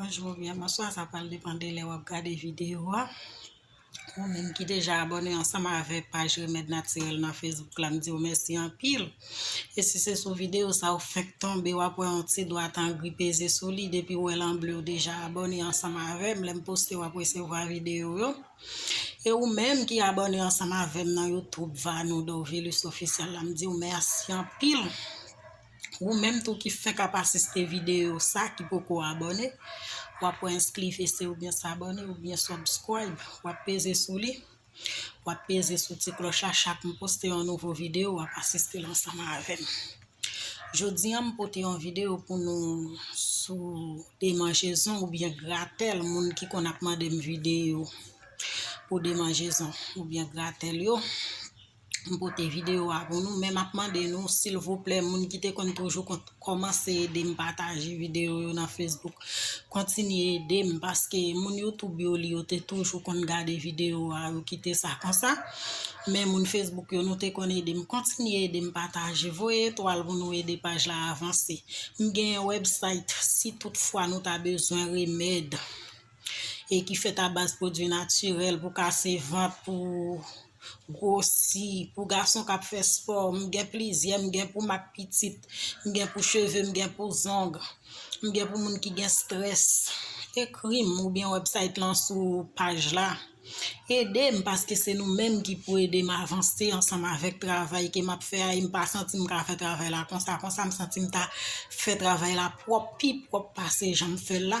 Bonjou oubyen bonswa, sa pral depan de lè wap gade videyo a. Ou menm ki deja abòne ansanm avèk paj Remèd Natirèl nan Facebook la, m di ou mèsi anpil. E si se sou videyo sa ou fenk tonbe, wap wè yon ti dwat an gri peze sou li, depi ou wè l an ble ou deja abòne ansanm avè m, lè m poste wap resevwa videyo yo. E ou menm ki abòne ansanm avè m nan Youtube Vanou Dorvilus Officiel la, m di ou mèsi anpil. Ou menm tou ki fenk ap asiste videyo sa ki poko abone, wap wè enskli fese ou byen sabone ou byen subscribe, wap peze sou li, wap peze sou ti kloch la chak m poste yon nouvo videyo wap asiste l ansanm avè m. Jodi an m pote yon videyo pou nou sou demanjezon ou byen gratèl moun ki konn ap mande m videyo pou demanjezon ou byen gratèl yo. m pote video a pou nou men map mande nou silvouplè moun ki te konn toujou kont komanse ede m pataje video yo nan Facebook kontinye ede m paske moun YouTube yo li yo te toujou konn gade video a yo kite sa konsa men moun Facebook yo nou te konn ede m kontinye ede m pataje voye etwal pou nou ede paj la avanse m gen website si tout fwa nou ta bezwen remèd e ki fèt a baz pwodwi natirèl pou kase vant, pou gwosi, pou gason kap fè spò, m gen plizyè, m gen pou mak pitit, m gen pou cheve, m gen pou zong, m gen pou moun ki gen strès, ekri m oubyen website lan sou paj la, ede m paske se nou menm ki pou ede m avanse ansanm avèk travay ke map fè a e m pa santi m ka fè travay la konsa konsa, m santi m ta fè travay la pwòp, pi pwòp pase jan m fèl la.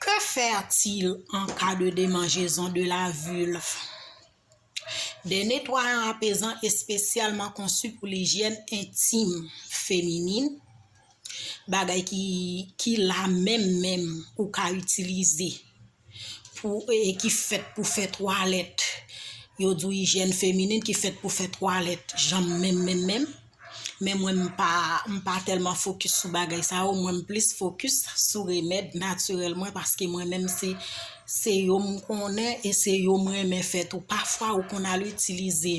Que faire-t-il en cas de demanjezon de la vulve? Des netwayant apezan espesyalman konsi pou lijyèn entim feminin, bagay ki la menm menm ou ka itilize pou e ki fèt pou fè twalèt, yo di w ijyèn feminin ki fèt pou fè twalèt janm menm menm menm. men mwen m pa m pa tèlman fokis sou bagay sa yo mwen m plis fokis sou remèd natirèl mwen paske mwen menm se se yo m konnen e se yo m renmen fè tou pafwa ou konn al itilize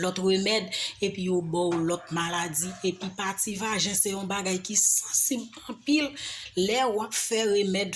lòt remèd epi yo bò ou lòt maladi epi pati vajen se yon bagay ki sansib anpil lè wap fè remèd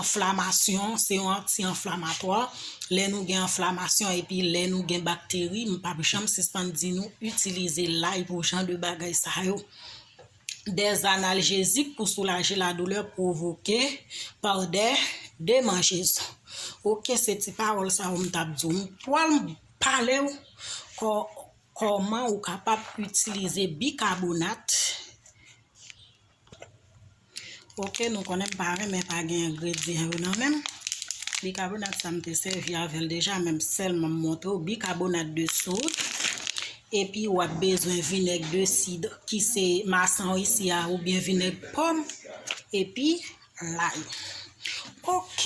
Anflamasyon, se yon anti anflamatwa, lè nou gen anflamasyon epi lè nou gen bakteri, m pap janm sispann di nou itilize lay pou jan de bagay sa yo. Dè analjezik pou soulaje ladoulè pwovoke pa dè demanjezon. Ok se ti pawòl sa yo m tap di w. M pwal pale w kò kòman ou kapab itilize bikabonat. Ok nou konnen m pa renmen pa gen engredyan yo nan menm. Bikabonat sa m te sèvi avè l deja men m sèlman m montre w bikabonat de sod. Epi w ap bezwen vinèg de sid ki se masan w isi a oubyen vinèg pòm. Epi Lay. Ok.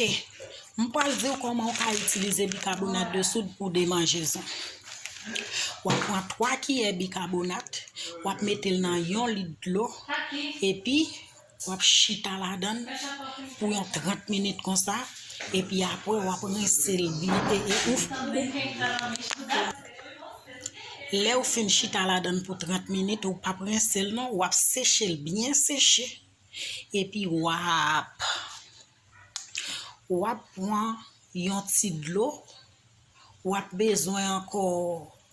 M pral di w kòman w ka itilize bikabonat de soud pou demanjezon. W ap pran 3 kiyè bikabonat, w ap mete l nan yon lit dlo, epi w ap chita ladan l pou yon 30 minit konsa, epi apre w ap rense l byen e e ou Lè ou fin chita ladan l pou 30 minit, ou p ap rense l non, w ap seche l byen seche. epi wap wap pwan yon ti dlo wap bezwen ankò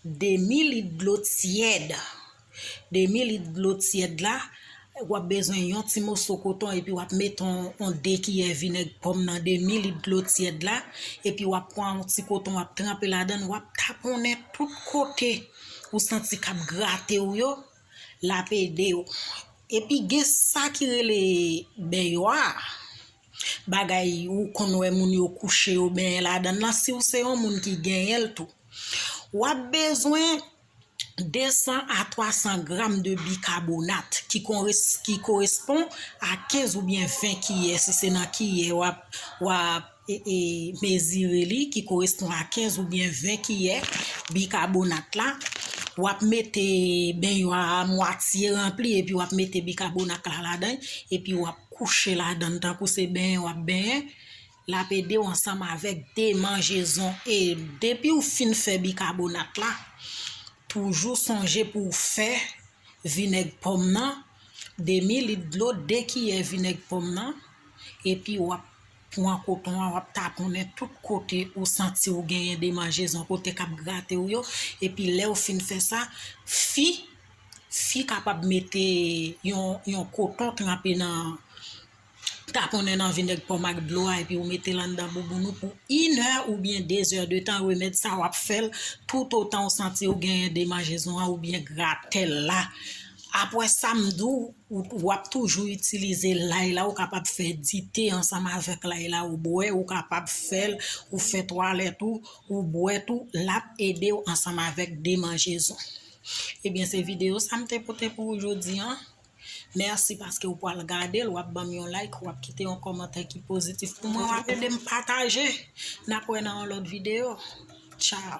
demi lit dlo tyèd demi lit dlo tyèd la wap bezwen yon ti moso koton epi wap met yon de kiyè vinèg pòm nan demi lit dlo tyèd la epi wap pwan yon ti koton wap tranpe ladan wap taponnen tout kote ou santi kap grate ou yo Lap ede yo. Epi gen sa ki rele benywa a, bagay ou konn wè moun yo kouche yo benyen ladan l lan si w se yon moun ki genyen l tou. Wap bezwen 200 a 300 gram de bikabonat ki korespon a 15 oubyen 20 kiyè si se nan kiyè wap e mezire li ki korespon a 15 oubyen 20 kiyè bikabonat la wap mete benwa a mwatye ranpli epi wap mete bikabonat la ladan epi wap kouche ladann tankou se benyen wap benyen lap edew ansanm avèk demanjezon e depiw fin fè bikabonat la toujou sonje pouw fè vinèg pòm nan demi lit dlo 2 kiyè vinèg pòm nan epi wap Pwan koton an wap taponnen tout kote ou santi ou genyen demanjezon kote kap grate ou yo epi lèw fin fè sa fi fi kapab mete yon yon koton tranpe nan taponnen nan vinèg pòm ak dlo a epi ou metel anndan bouboun ou pou inè oubyen dezè de tan remèd sa wap fèl tout otan ou santi ou genyen demanjezon an oubyen gratèl la apwè sa mdou Ou ap toujou itilize lay la ou kapab fè dite ansanm avèk lay la ou bwè ou kapab fèl ou fè twalèt ou ou bwè tou lap edew ansanm avèk demanjezon ebyen se video sa m te pote pou ou jodi an mèsi paske ou pwal gadel wap banm yon like wap kite yon kòmantè ki pozitif pou mwen wap edem pataje nap wè nan yon lòt video tchao.